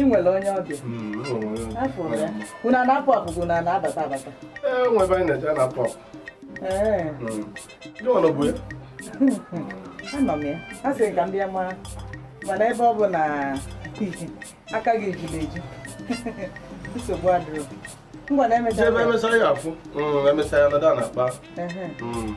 ị nwere onye ọbịa unu na-apụ apụ bụ na na-abata abata anọ m ya a sị ka m bịa mara mana ebe ọ bụ na aka gị ejula eju nsogbu adịrọ ngwa na emechaa ebe emechaa anyị afụ mm, emechaa anyị anọdụ na-akpa mm.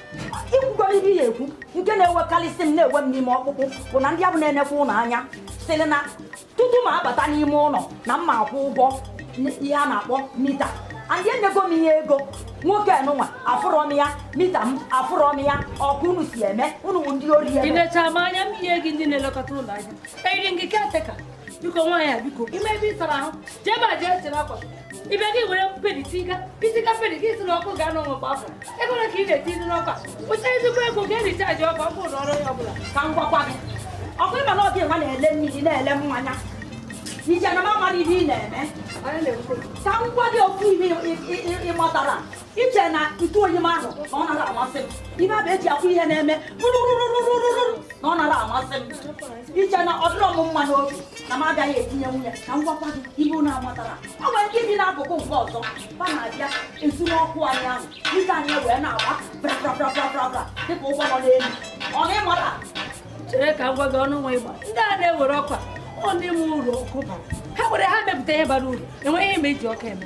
ikwukwara ibe ya ekwu nke na-ewekarịsị m na-ewe m n'ime ọkpụkpụ bụ na ndị abụ na-enekwa ụlọ anya sịrị na tutu m abata n'ime ụlọ na mma akwụ ụgwọ ihe a na-akpọ meter and enyego m ihe ego nwoke nụnwa afụrọ m ya meter m afụrọ m ya ọ ka unu si eme unu bụ ndị ori ị eme necha m anya m ihe gị ndị na-elekọta ụlọ ahịa eyiri ndị caretaker biko nwaanyị a biko ime ebe ịsara ahụ jee ebe a jee chere akwa ibe gị were pedi tiga itiga pedi gị si n'ọkụ ga anọ nwekwa afọ ego ole ka ị na-etinye n'ọkụ a weta ezigbo ego ga-eji charge ọkụ ọkụ ụlọ ọrụ ya ọbụla ka m gwakwa gị okwu ịma na ọ gịnwa na-ele mmiri na-ele mmanya iche na m amarọ ihe ị na-eme ka m gwa gị okwu ihe ị matara iche na ntụ oyi m ahụ na ọ narọ amasị m ibe abụ eji akwọ ihe na-eme rụrụrụrụrụrụ na ọ narọ amasị m iche na ọ dịrọ m mma n'obi na m agaghị etinye nwunye ka m gwakwa gị ihe unu amatarọ ọ nwere ike ịdị n'akụkụ nke ọzọ ba na-abịa ezu n'ọkụ anyị ahụ ike anyị wee na-agba brabrabrabrabra dịka ụgbọ nọ n'elu ọ na ịmarọ chere ka m gwa gị ọnụ nwa ịgba ndị a na-ewere ọkwa ọ ndị nwe ụlọ ọkụ bara ha were ha mepụta ihe bara uru enweghị ihe m eji ọkụ eme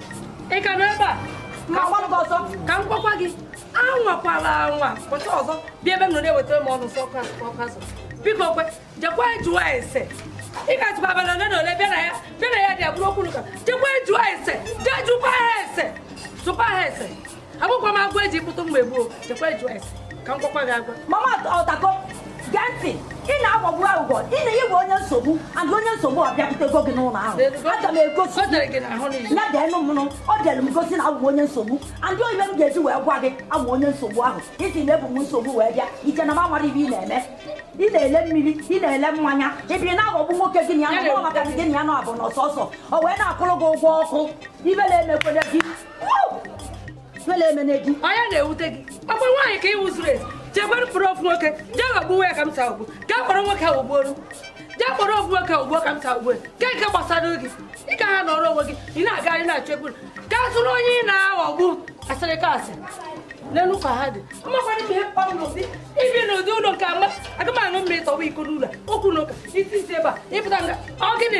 ị ka nọ ebe a ma gwa gị ọzọ ka m gwakwa gị anwakwala anwa pụta ọzọ bịa ebe m nọ na-ewetara m ọnụ sọ ọkụ azụ biko kwe jekwa jụọ ese ị ga-atụkwa abalị ole na ole bịa na ya bịa na ya dị abụrụ okwu n'ụka jekwa jụọ ese jee jụkwa ha ese jụkwa ha ese agbụkwa m agwa eji kpụtụ mgbe gboo jekwa jụọ ese ka m gwakwa gị agwa mama ọtako gee ntị ị na-agbagbu aghụghọ na ị wụ onye nsogbu and onye nsogbu ọ bịakwutego gị n'ụlọ ahụ aga m egosi ya deenụ mụnụ ọ dịrị m gosi na awụ m onye nsogbu and ọ ibe m ga-eji wee gwa gị awụ m onye nsogbu ahụ ị sị na ebu m nsogbu wee bịa iche na m amarọ ibe ị na-eme ị na-ele mmiri ị na-ele mmanya ịbịrị na-aghọgbu nwoke gị na ya nọ maka gị na ya nọ abụ n'ọsọsọ o wee na-akwụrụ gị ụgwọ ọkụ ibe na-emekwele gị onye na-ewute gị ọkwa nwaanyị ka ị wụ zuru ezu jee kpọrọ ofu nwoke jee ghọgbuwe ya ka m taa ugbu ka kpọrọ nwoke ahụ ghọgbuo jee kpọrọ ofu nwoke ahụ ghọgbuo ka m taa ugbu ka nke gbasara gị ị ka ha nọrọ onwe gị ị na-agagharị na-achọ ekwuru ka zụrụ onye ị na-aghọgbu asịrị ka asị n'elu ka ha dị mmakwana ihe m kpọrọ n'ụdị ibi n'ụdị ụlọ nke a ma aga m aṅụ mmiri tọwa iko n'ụlọ okwu n'ụka isi isi ebe a ịpụta nga ọ gịnị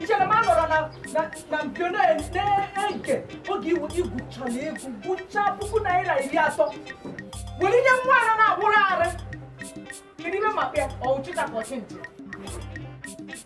ichere m anọrọ na mpio na-ege oge ịgụchala ego gụchaa puku naira iri atọ were nye nwa ara na-agbụrụ arị kedu ime maka ya ọwụchịta ka ọchị ntị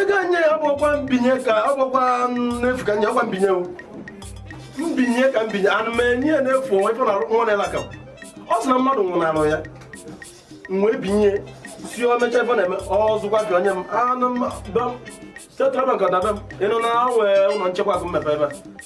ego anyị ya ọ bụkwa mbinye ka ọ bụkwa n'efu ka nye ọkwa mbinye mbinye ka m binye anụ m enye ya n'efu onwe ife na nwa na elaka ọ sị na mmadụ nwụnarụ ya mgbe binye si o mecha ife na-eme ọzụkwa gị onye m anụ m Central Bank ọdaba m ịnụ na nwee ụlọ nchekwa akụ m mepe ebe a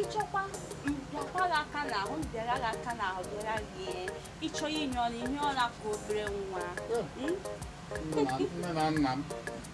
ịchọkwa m pịakwara gị aka n'ahụ m pịara gị aka n'ahụ pịara gị ịchọ inye ọnụ ihe ọla ka obere nwa nne na nna m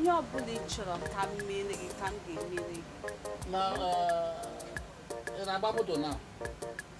ihe ọ bụla ị chọrọ ka m meere gị ka m ga-emere gị na ị na-agba moto na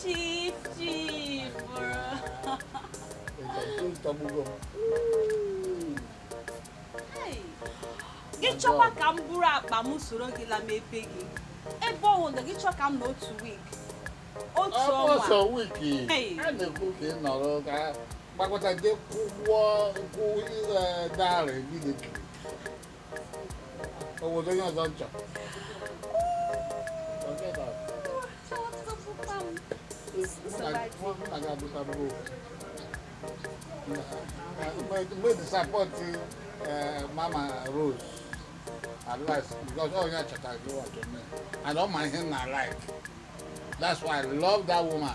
Chief, chief, bro. gị chọkwa ka m buru akpa m soro gị la mepe gị ebe ọ wụndụ gị chọ ka m nọ otu week otu ọnwa ọsọ wiki a na-ekwu ka ị nọrọ ka gbakọta gị kwụọ kwụ darị gị na-ekiri Obodo onye ọzọ nchọ. Forget that. Mgbe disappoint mama Rose at last because all ya chọtara gị wa to me and ọ ma ihe m na like that's why I love that woman.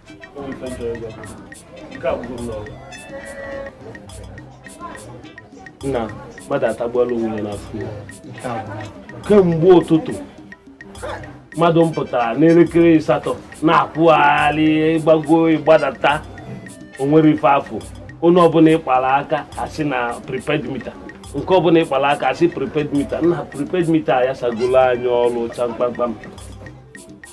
nna mmadụ atagbuola onwe ya n'afụfụ kemgbe ụtụtụ mmadụ m pụtara n'elekere asatọ na-akwụgharị ịgbago ịgbadata onwere ife afụ onye ọbụla ịkpara aka asị na prepaid meter nke ọbụla ịkpara aka asị prepaid meter nna prepaid meter ya sagolo anyị ọrụ cha mkpamkpam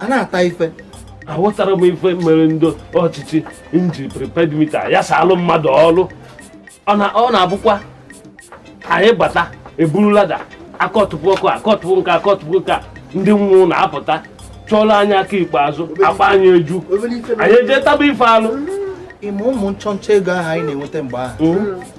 a na-ata ife aghọtara m ife mere ndị ọchịchị nji prepaid mita ya salụ mmadụ ọrụ ọ na-abụkwa anyị bata eburu lada akọtụpụ ọkụ akọtụpụ nke akọtụpụ nke ndị nwe ụnọ apụta chọọlụ anyị aka ikpeazụ akpa anyị eju anyị eje taba ife alụ ịma ụmụ nchọnchọ ego ahụ anyị na-enweta mgbe ahụ hmm?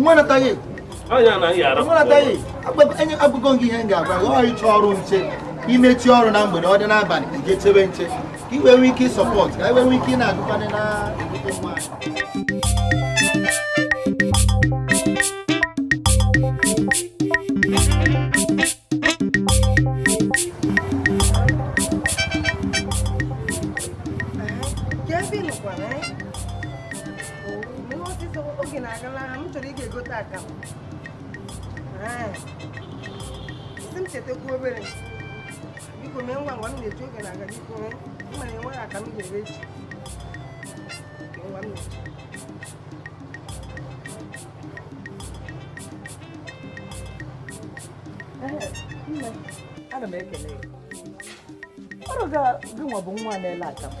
nwa nataghị agụgo gị ihe m ga-agwa gị ọ ị chọọ ọrụ nche i mechie ọrụ na mgbede ọ dị n'abalị i je chebe nche ka i wee nwee ike ịsupport ka i wee nwee ike ị na-agụkwanị na oge na-agala ha m chọrọ ịga egote akamụ sị m chetakwu obere biko mee ngwa ngwa m na-eji oge na-aga biko mee mana enweghị akamụ ga-ere echi ngwa m na-eji ana m ekele ya ọrụ ga gị nwa bụ nwa na-ele akamụ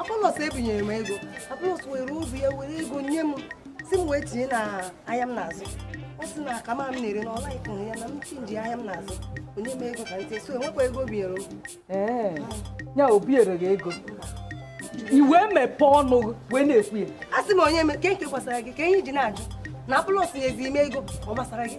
Apọlọs ebinyere m ego Apọlọs were obi ya were ego nye m sị m were tinye na ahịa m na-azụ ọ sị na akamụ m na-ere na ọla ikụrụ ya na m change ahịa m na-azụ o nye m ego ka ntị so enwekwa ego biere m ee ya o biere gị ego i wee mepee ọnụ wee na-ekwu ya a sị m onye ke nke gbasara gị kee ihe i ji na-ajụ na Apọlọs nyezi m ego ọ gbasara gị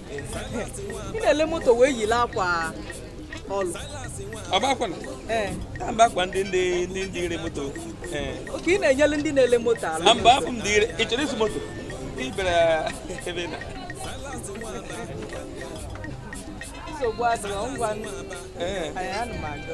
ị na-ele moto wee yile akwa ọlụ ọgbakwana ee ka mba akwa ndị ndị ndị dealer moto ee okay ị na-enyele ndị na-ele moto aka mba abụ m dealer ị chọrọ ịzụ moto ị bịara ebe ị na nsogbu adịghị ngwa ee anyị ana m aga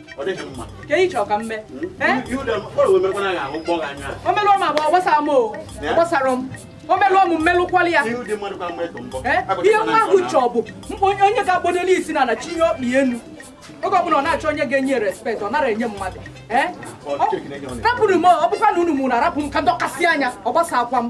ọ dịghị mma ka ị chọrọ ka m mee o melụọ m abụọ gbasara m ọ gbasara m o melụọ m m melụkwalụ ya ihe nwa ahụ chọọ bụ mkpa onye onye ga-agbado isi n'ana chinie ọkpa elu oge ọbụla ọ na-achọ onye ga-enye respect ọ narọ enye mmadụ rapụrụ m ọ bụkwa na unu mụrụ arapụ m ka m dọkasị anya ọ gbasakwa m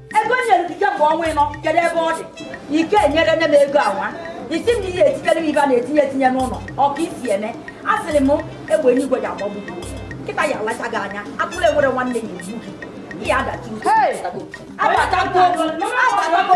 ego e nyere gị kemgbe ọnwa ịnọ kedu ebe ọ dị ike enyere nne m ego awa isi m na ihe etinyere m ebe a na-etinye etinye n'ụlọ ọka isi eme a sịrị m egbe enigwe ji agbagbu nkịta ya-alacha gị anya atụrụ enwere nwanne ya-egbu gị ihe adachi agbatago agbatago